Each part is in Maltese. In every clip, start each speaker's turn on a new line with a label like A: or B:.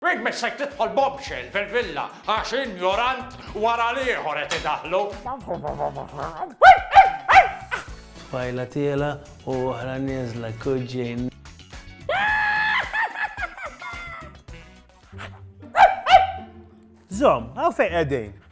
A: Int mhix ser tidħol bombshell fil-villa għax injorant wara l-ieħor qed idaħħlu.
B: Tfajla tiela u oħra nieżla kuġġin.
C: Żomm, hawn fejn qegħdin.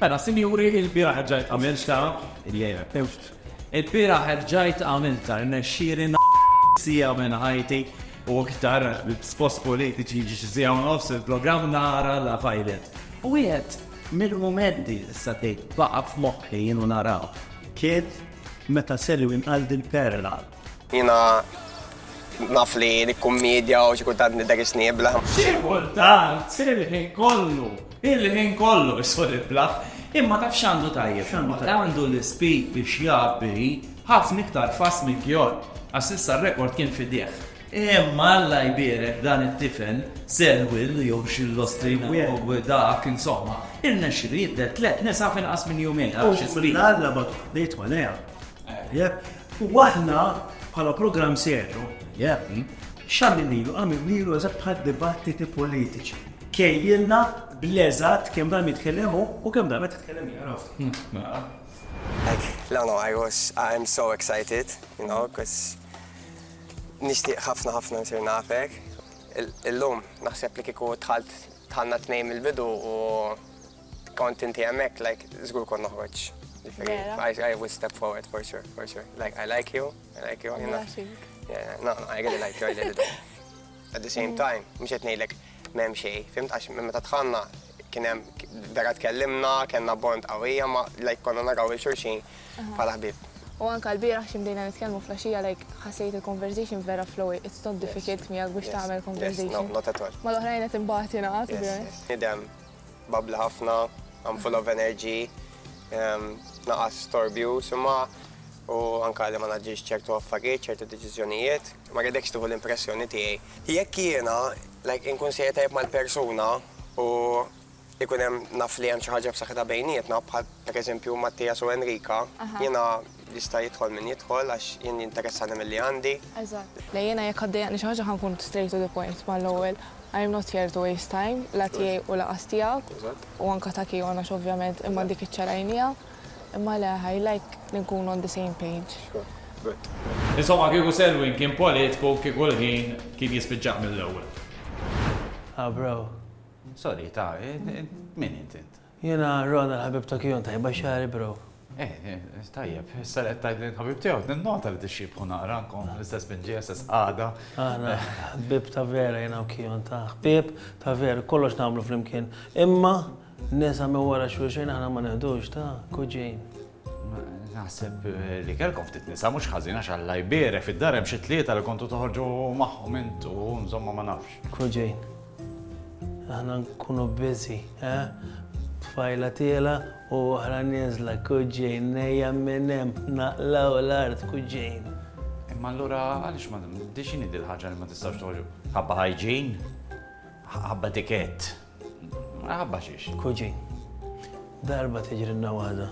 D: Mela sinjuri il-bieraħ erġajt għamilta, il-lejla tewxt. Il-bieraħ erġajt għamilta, rnexxieli sija minn ħajti u iktar spost politiċi ġisija nofs il-programm nara la fajlet. U jgħed, mill-momenti issa tgħid baqa' f'moħħi jienu naraw kien
E: meta Selwyn għal din perla Jiena
F: naf li nikkummedja u xi kultant nidher isniebla. Xi kultant,
D: il-ħin kollu, il-ħin kollu isħol il-blaħ. Imma taf x'għandu tajjeb il-moħħ? Għandu l-ispeed biex jgħabbi ħafna iktar fast minn Kjort, għax s'issa r-rekord kien f'idejh. Imma Alla jbierek dan it-tifel, Selwyn jew x'illostrina jew dak, insomma, irnexxielu jidher tliet nisa f'inqas minn jumejn, ara x'ispeed! L-Alla bagħtu
E: ħdejtu għaliha. U aħna bħala programm serju, xamilnilu, għamilnilu eżatt bħal dibattiti politiċi. Kejjilna bleżat kemm dan jitkellem u kemm dan qed jitkellem jaraf. Like, no, no,
F: I was, I'm so excited, you know, because nishtiq ħafna ħafna nsir nafek. Illum, naħseb li kiku tħalt tħanna t-nejm il-bidu u Kont inti hemmhekk, like, żgur kont noħroġ. I would step forward for sure, for sure. Like, I like you, I like you. Yeah, no, I really like you, I really do. At the same mm. time, mhux qed ngħidlek m'hemm xejn, fimt għax meta tħanna kien hemm vera tkellimna, kellna bond qawwija ma like konna naraw il-xulxin bħala ħbib. U anka l-biraħ
G: ximdejna nitkellmu flaxija, like, ħasejt il-conversation vera flowy, it's not difficult miegħek biex tagħmel conversation. Yes, no, not at all. Ma l-oħrajn
F: qed imbagħad
G: jingħad. Idem,
F: Babbli ħafna, I'm full of energy, ehm, naqas storbju, summa u anka li ma naġġiex ċertu affarijiet, ċertu deċiżjonijiet, ma għedekx tuħu l-impressjoni tiegħi. Jekk jiena, like, inkun sejja tajb mal-persuna u ikun hemm naf li hemm xi ħaġa f'saħħitha bejnietna, bħal pereżempju Mattias u Enrika, jiena Jista' jidħol min jidħol għax jien jinteressani milli għandi. Eżatt. Le jiena
G: jekk għaddejjaqni xi ħaġa ħa nkun straight to the point mal-ewwel. I am not here to waste time, la tiegħi u lanqas tiegħek. Eżatt. U anke ta' Kion għax ovvjament imma dik iċċarajniha. Imma le, I like li nkunu on the same page. Sure. Good.
D: Insomma kieku Selwyn kien politku kieku l-ħin kien jispiċċah mill-ewwel. Ha
B: bro.
H: Sorry ta, min int int? Jiena Ron
B: il-ħabib ta' Kion, tajba xagħri bro? Eh, eh, tajjeb,
H: issa li qed tgħid li l-ħabib tiegħu ninnota li tixxiebħu naqra nkom l-istess binġi, istess qagħda. Aħna
B: ħbib ta' vera jiena u Kion ta' ħbib ta' vera, kollox nagħmlu flimkien. Imma nisa minn wara xulxejn aħna ma neħdux ta' kuġin.
H: Naħseb eh, li kelkom ftit nisa mhux ħażin għax Alla jbierek fid-dar hemm xi tlieta li kontu toħorġu magħhom intu, insomma ma nafx. Koġejn,
B: aħna nkunu biżi, eh? Tfajla tiela u oħra nieżla, koġejn, nejja minn hemm, naqlaw l-art, koġejn. Imma allura
H: għaliex ma dixini dil-ħaġa li ma tistax toħorġu? Ħabba ħajġin? Ħabba tikett? Maħabba xiex. Kuġin.
B: Darba tiġrinna waħda.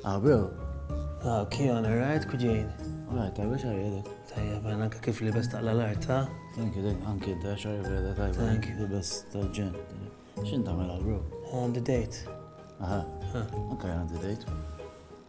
E: Għabew. Ah, ok, on the
B: right,
E: kuġin. Alright,
B: tajba xarri
E: għedek. Tajja,
B: bħan anka kif li best taqla l-art, ta? Thank you, dek, anki
D: da xarri għedek, tajba. Thank you. The best
B: tal-ġen.
D: Xin tamela, bro? On the
B: date. Aha.
D: Anka jgħan the date.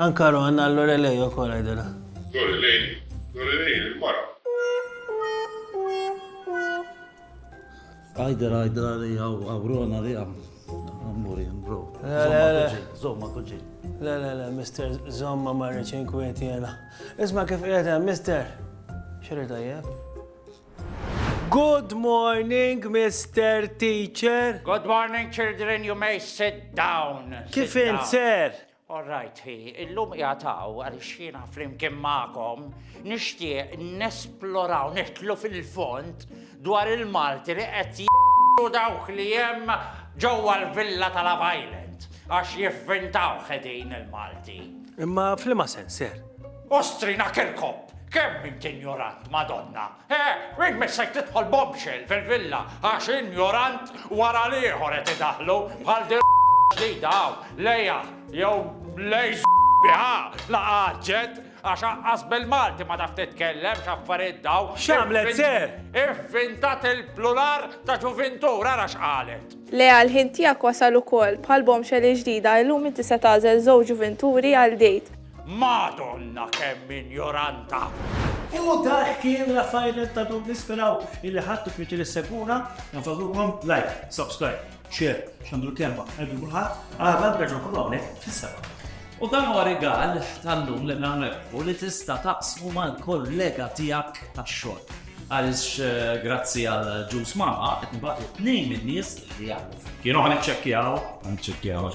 B: Anka Ron għal Lorelei ukoll għidilha. Lorelei,
I: Lorelei il-mara.
D: Għidilha għidilha li għaw Ron għalija. Ammuri, bro. Zomma kuġi. Le, le, le, mister,
B: zomma marriċin kwieti jena. Isma kif qiegħed Mister, xirri tajjeb? Good morning, Mister Teacher. Good morning,
A: children, you may sit down. Kif int, sir?
B: All
A: right,
B: hi,
A: illum jgħataw għal xina flimkien ma'kom, nixtieq nesploraw nitlu fil-font dwar il-Malti li qed jgħu dawk li hemm ġewwa l-villa tal Island għax jiffintaw ħedin il-Malti. Imma flima
B: sensir? Ostrina
A: Kirkop! Kemm int injorant, Madonna! Eh, int missek tidħol bombshell fil-villa għax injorant wara l-ieħor qed idaħħlu bħal din l-ġdida hawn, lejha jew lej biha la għaġġet għax anqas bil-Malti ma taf titkellem x'affarijiet dawn. X'għamlet se?
B: Ivvintat
A: il-plural ta' ġuvintur ara x'qalet. Lea l-ħin tiegħek
G: wasal ukoll, bħall-bombshell il-ġdida illum inti se tagħżel żewġ ġuvinturi għal date. Madonna
A: kemm injoranta! U
E: dak kien Raffaele ta' dum nisperaw illi ħattu fitri s-seguna, nfadlukom like, subscribe, share, xandu l-kemba, għeddu kullħat, għadha bħedġu kullawnek fissaba. U dan huwa
D: rigal tal-lum li nagħmlu li tista' taqsmu mal-kollega tiegħek tax-xogħol. Għaliex eh, grazzi għal ġus mama qed nbagħtu tnejn min-nies li jagħmlu. Kienu ħan iċċekkjaw, ħan iċċekkjaw